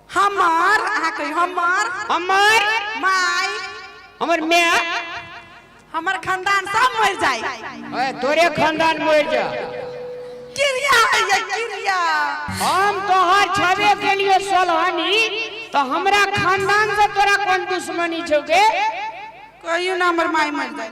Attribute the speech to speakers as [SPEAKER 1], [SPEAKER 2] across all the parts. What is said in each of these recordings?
[SPEAKER 1] हमार अहाँ कही हमार हमर
[SPEAKER 2] माय
[SPEAKER 1] हमर
[SPEAKER 2] माय
[SPEAKER 1] हमर खानदान सब मर जाए ओए तोरे
[SPEAKER 2] खानदान मर जा किरिया
[SPEAKER 1] है ये किरिया हम
[SPEAKER 2] तोहर छबे के लिए सोलहनी तो हमरा खानदान से तोरा कौन दुश्मनी छौके कहियो
[SPEAKER 1] ना हमर माय मर जाए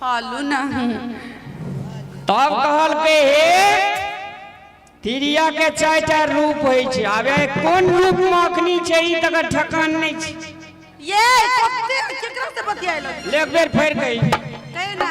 [SPEAKER 1] खालू नहीं
[SPEAKER 2] तब कहलकै हे तिरिया के चारि टा रूप होइ छै आब ए कोन रूप में अखनी छै ई तकर ठकान नहि छै ये
[SPEAKER 1] कते केकरा से बतियाइलो ले एक बेर फेर
[SPEAKER 2] कही कहे ना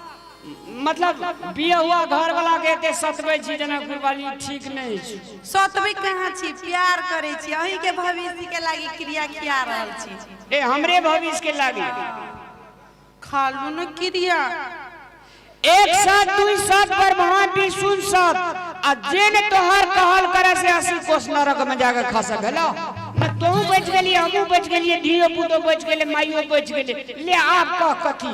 [SPEAKER 2] मतलब बिया हुआ घर वाला के एते सतबै छी जनकपुर वाली ठीक नहि अछि सतबै कहाँ
[SPEAKER 1] छी प्यार करै छी अहीं के भविष्य के लागी क्रिया किया रहल छी ए हमरे भविष्य
[SPEAKER 2] के लागी
[SPEAKER 1] खालू न क्रिया
[SPEAKER 2] एक साथ दुई साथ पर वहां भी सुन सब आ जे ने तोहर कहल करे से अस्सी कोस नरक में जाके खा सकला न तू बच गेली हमू बच गेली धियो पुतो बच गेले माइयो बच गेले ले आप कह कथी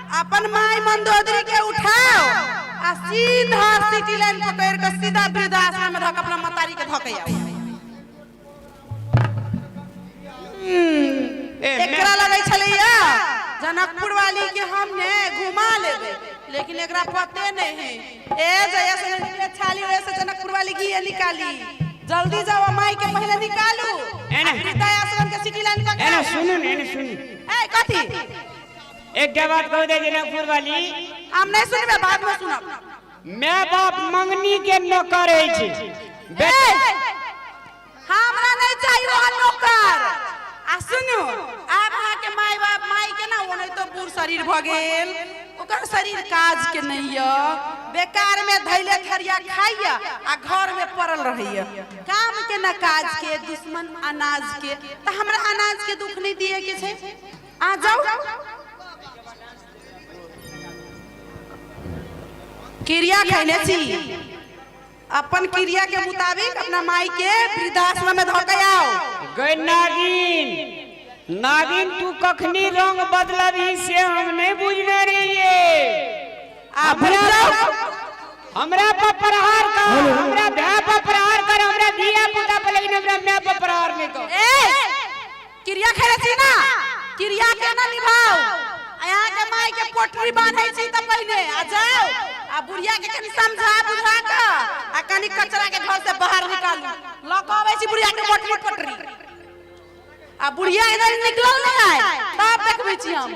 [SPEAKER 1] अपन माय मंदोदरी के उठाओ आ सीधा सिटी लाइन पकड़ के सीधा वृद्धाश्रम में धक अपना मतारी के धके आओ ए, मैं- एकरा लगे छलैया जनकपुर वाली के हम ने घुमा लेबे लेकिन एकरा पते नहीं है ए जया से निकले छाली ओए से जनकपुर वाली की ये निकाली जल्दी जाओ माई के पहले निकालू एने। वृद्धाश्रम के सिटी लाइन पकड़ एने सुनू ने एने सुनू
[SPEAKER 2] ए कथी एकटा बात कह दे जनकपुर वाली हम नहीं सुनबे
[SPEAKER 1] बाद में सुनब मैं बाप
[SPEAKER 2] मंगनी के नौकर है छी बेटा
[SPEAKER 1] हमरा नहीं चाहिए वहाँ नौकर आ सुनू आब वहाँ के माय बाप माय के ना वो नहीं तो बूढ़ शरीर भ गेल ओकर शरीर काज के नहीं य बेकार में धैले थरिया खाइय आ घर में पड़ल रहैय काम के ना काज के दुश्मन अनाज के त हमरा अनाज के दुख नहीं दिए के छै आ जाउ क्रिया खैले छी अपन क्रिया के मुताबिक अपना माई के वृद्धाश्रम में धऽ के आओ गई
[SPEAKER 2] नागिन नागिन तू कखनी रंग बदलबी से हम नहीं बुझने रहिए आ भूल जाओ हमरा पर प्रहार कर हमरा भाई पर प्रहार कर हमरा धिया पुता पर लेकिन हमरा मैं पर प्रहार नहीं कर ए
[SPEAKER 1] क्रिया खेले छी ना क्रिया के ना निभाओ आया के माई के पोटरी बांधे छी त पहिने आ जाओ आ बुढ़िया के कनी समझा बुझा के आ कनी कचरा के घर से बाहर निकाल ल के आवे छी बुढ़िया के मोटरी पोटरी आ बुढ़िया इधर निकलल नहीं आए तब देखबे छी हम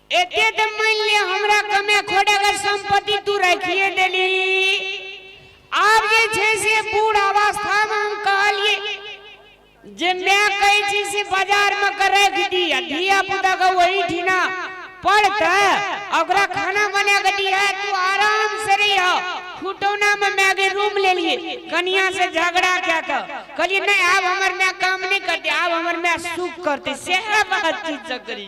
[SPEAKER 2] एते तऽ मानि ले हमरा कमे खोडेगर सम्पत्ति तू राखिए देली आब जे छै से बूढ़ अवस्थामे हम कहलियै जे माय कहै छी से बाजारमे के राखि दी आ धिया पुताके ओही ठिना पढ़तै आ ओकरा खाना बना कऽ दिहे तू आराम से रहिह खुटौनामे मायके रूम लेलियै कनिया से झगड़ा कए कऽ कहलियै नहि आब हमर माय काम नहि करतै आब हमर माय सुख करतै सएह बात चीज करी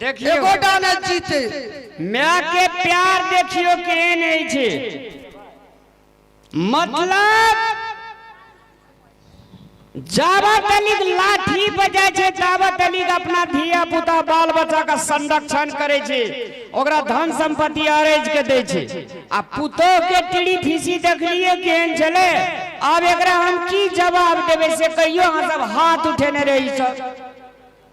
[SPEAKER 3] देखियो
[SPEAKER 2] एगोटा ने जीते
[SPEAKER 3] माय के
[SPEAKER 2] प्यार देखियो केहन होइ छै मतलब जावत अलीक लाठी बजै छै जावत अलीक अपना धिया पुता बाल बच्चा का संरक्षण करै छै ओकरा धन संपत्ति अरेज के दै छै आ पुतोह के टीड़ी फीसी देखलिए केहन छलै आब एकरा हम की जवाब देबै से कहियो अहाँ सब हाथ उठेने रही सब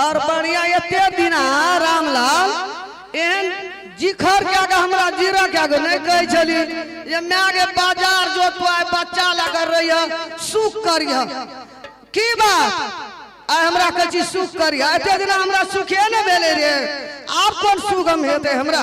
[SPEAKER 3] और बढ़िया एते दिना रामलाल एहन जिखर के आगे हमरा जीरा के आगे नहीं कहे छली ये मैं आगे बाजार जो तो आए बच्चा लगर रही है सुख करिया की बात आय हमरा कहे छी सुख करिया एते दिना हमरा सुखे न भेले रे आब कोन सुगम हेते हमरा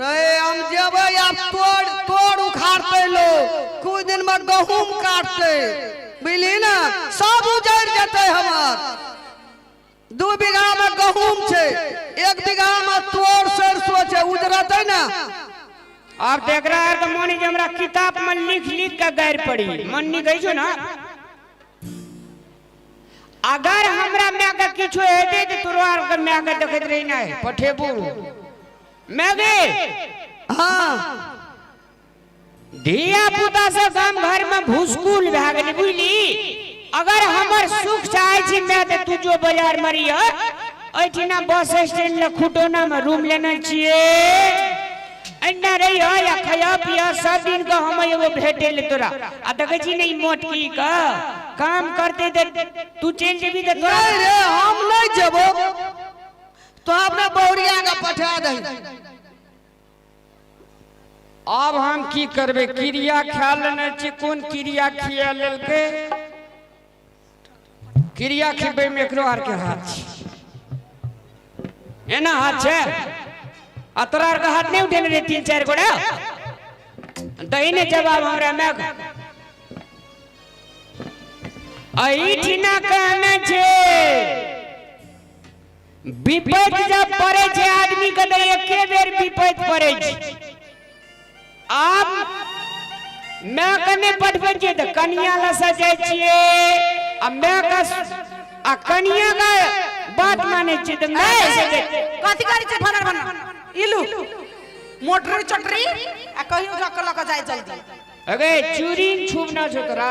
[SPEAKER 2] रे
[SPEAKER 3] हम जेबै आब तोड़ तोड़ उखाड़तै लोग कुछ दिन में गहूम काटतै बुझली ना सब उजड़ जेतै हमर दू बीघा में गहूम छै एक बीघा में तोड़ सरसो छै उजड़तै ना अब
[SPEAKER 2] देख रहा है तो मोनी जी हमरा किताब में लिख लिख के गैर पड़ी मन नहीं गई छो ना अगर हमरा मैं के किछो हेते तो तोरो आर के मैं के देखत रही ना पठेबू मैगी हाँ धिया पुता से गाम घर में भूसकुल भए गेली बुझली अगर हमर सुख चाहे छी मैं ते तू जो बाजार में रहिय ऐठिना बस स्टैंड ले खुटोना में रूम लेने छिए एन्ना रही हो या खया पिया सब दिन का हम एगो भेटे ले तोरा आ देखे छी नहीं मोट की का काम करते दे तू चल जेबी त तोरा नहीं रे हम नहीं
[SPEAKER 3] जबो तो अपने बौरिया के पठा दे
[SPEAKER 2] आब हम की करबै क्रिया खा लेने छी कोन क्रिया खिया लेलकै क्रिया खिबै में एकरो आर के हाथ छै एना हाथ छै आ तोरा आर के हाथ नहीं उठेने रे तीन चार गोड़ा दही ने जवाब हमरा मैं अहिठिना कहने छै विपैत जब पड़े छै आदमी के तो एके बेर विपैत पड़े छै आब माय के नहि पढ़बै छियै तऽ कनिया लग से जाइ छियै आ माय के आ कनिया के बात मानै छियै तऽ माय के से जाइ छियै। कथी करै छै
[SPEAKER 1] भनर भनर इलू मोटरी चोटरी आ कहियो लऽ कऽ लऽ कऽ जाय जल्दी अगे
[SPEAKER 2] चूरी छुप ना छो तोरा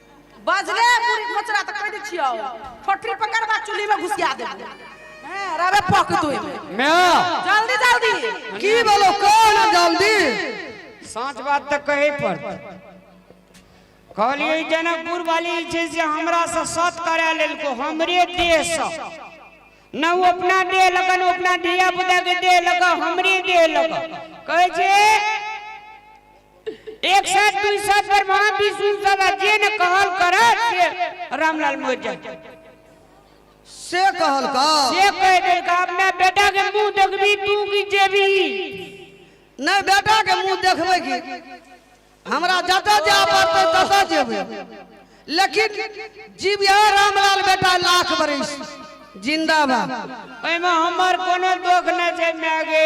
[SPEAKER 1] बजले बुढ़ी मोचरा तऽ कहि दै छियौ ठोठी पकड़बा चुल्ही में घुसिया देबो हैं रवे पक तू मैं
[SPEAKER 2] जल्दी जल्दी
[SPEAKER 1] की बोलो
[SPEAKER 3] कौन है
[SPEAKER 2] जल्दी साँच
[SPEAKER 3] बात तऽ
[SPEAKER 2] कहै पड़तै कहलियै जनकपुर वाली जे छै से हमरा से सत करा लेलको हमरे देह से न ओ अपना देह लगा न अपना धिया पुता के देह लगा हमरे देह लगा कहै छै एक साथ दुई साथ पर महाविष्णु सदा जे न कहल करत से रामलाल मोहित जान
[SPEAKER 3] से कहल का से कह दे का
[SPEAKER 2] अपना बेटा के मुंह देखबी तू की जेबी
[SPEAKER 3] नहीं बेटा के मुंह देखबे की हमरा जतऽ जाय पड़तै ततऽ जेबै लेकिन जीव यह रामलाल बेटा लाख बरिस जिंदाबाद ओहिमे
[SPEAKER 2] हमर कोनो दोख नहि छै माय गे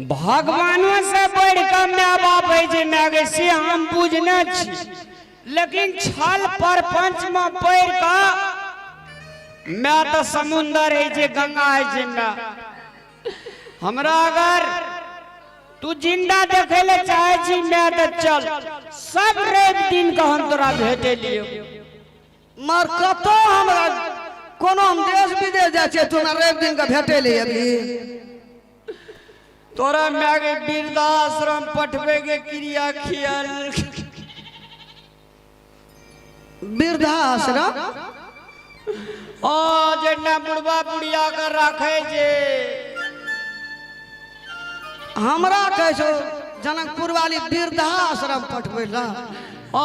[SPEAKER 2] भगवानो से बढ़ के माय बाप है जे माय गई से हम बुझने छी लेकिन छल प्रपंच में पढ़ के माय तो समुंदर है जे गंगा है जे माय हमरा अगर तू जिंदा देखे ले चाहे छी माय तो चल सब रवि दिन के हम तोरा भेटे लियो
[SPEAKER 3] मार कतो हमरा कोनो हम देश विदेश जाइ छियै तू हमरा रवि दिन के भेटे ले अभी
[SPEAKER 2] तोरा माय के वृद्धाश्रम पठबे के क्रिया खियाल
[SPEAKER 3] वृद्धाश्रम ओ
[SPEAKER 2] जेना बुढ़वा बुढ़िया के राखे जे
[SPEAKER 3] हमरा कहै छौ जनकपुर वाली वृद्धाश्रम पठबै लए ओ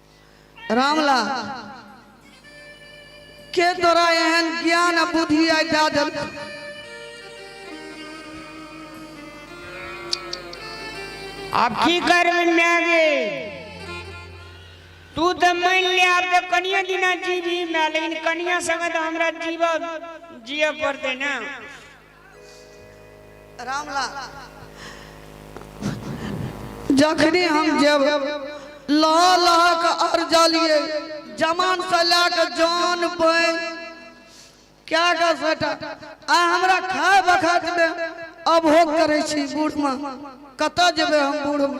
[SPEAKER 2] रामला
[SPEAKER 3] के तोरा एहन ज्ञान आ बुद्धि आइ दए देल
[SPEAKER 2] अब की करबे माय गे तू तऽ मानि ले आब तऽ कनिए दिना जीबी माय लेकिन कनिया संगे तऽ हमरा जीव जिय पड़तै ने
[SPEAKER 3] जखनी हम जब लह लह के अरजलिए जमान से ला के जान पे क्या कर सटा आ हमरा खाए बखत में अभोग करे छी बूढ़ में कतऽ जेबे हम बूढ़ में